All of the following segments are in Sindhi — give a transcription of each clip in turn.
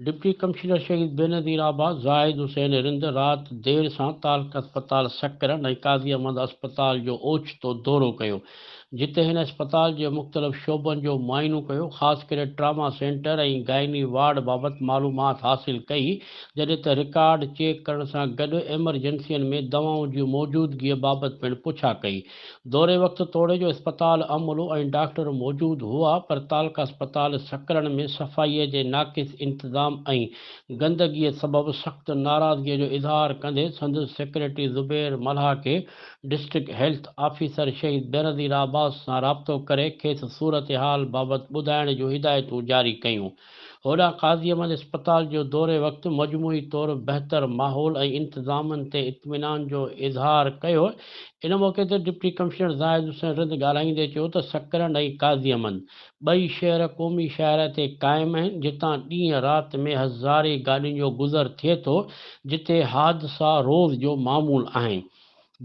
Deputy commissioner Shaheed Benazirabad Zahid Hussain Rind رات دير سان تعلقه اسپتال سڪرنڊ ۽ قاضي احمد اسپتال جو اوچتو دورو ڪيو جتي هن اسپتال جي مختلف شعبن جو معائنو ڪيو، خاص ڪري ٽراما سينٽر ۽ گائني وارڊ بابت معلومات حاصل ڪئي، جڏهن ته رڪارڊ چيڪ ڪرڻ سان گڏ ايمرجنسين ۾ دوائن جي موجودگيء بابت پڻ پڇا ڪئي. دوري وقت توڙي جو اسپتال عملو ۽ ڊاڪٽر موجود هئا، پر تعلقه اسپتال سڪرن ۾ صفائيء جي ناقص انتظام ۽ گندگيء سبب سخت ناراضگيء جو اظهار ڪندي سندس سيڪريٽري زبير ملاح کي district health officer Shaheed Benazir Abbas سان رابطو ڪري کيس صورتحال بابت ٻڌائڻ جون هدايتون جاري ڪيون. هوڏانهن قاضي احمد اسپتال جو دوري وقت مجموعي طور بهتر ماحول ۽ انتظامن تي اطمينان جو اظهار ڪيو. ان موقعي تي ڊپٽي ڪمشنر زاهد حسين رند ڳالهائيندي چيو ته سڪرنڊ ۽ قاضي احمد ٻئي شهر قومي شاهراهه تي قائم آهن، جتان ڏينهن رات ۾ هزارين گاڏين جو گذر ٿئي ٿو، جتي حادثا روز جو معمول آهن،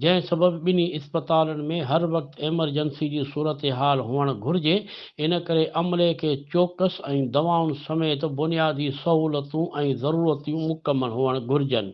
جنهن سبب ٻنهي اسپتالن ۾ هر وقت ايمرجنسي جي صورتحال هئڻ گهرجي، ان ڪري عملي کي چوڪس ۽ دوائن سميت بنيادي سهولتون ۽ ضرورتيون مڪمل هئڻ گهرجن.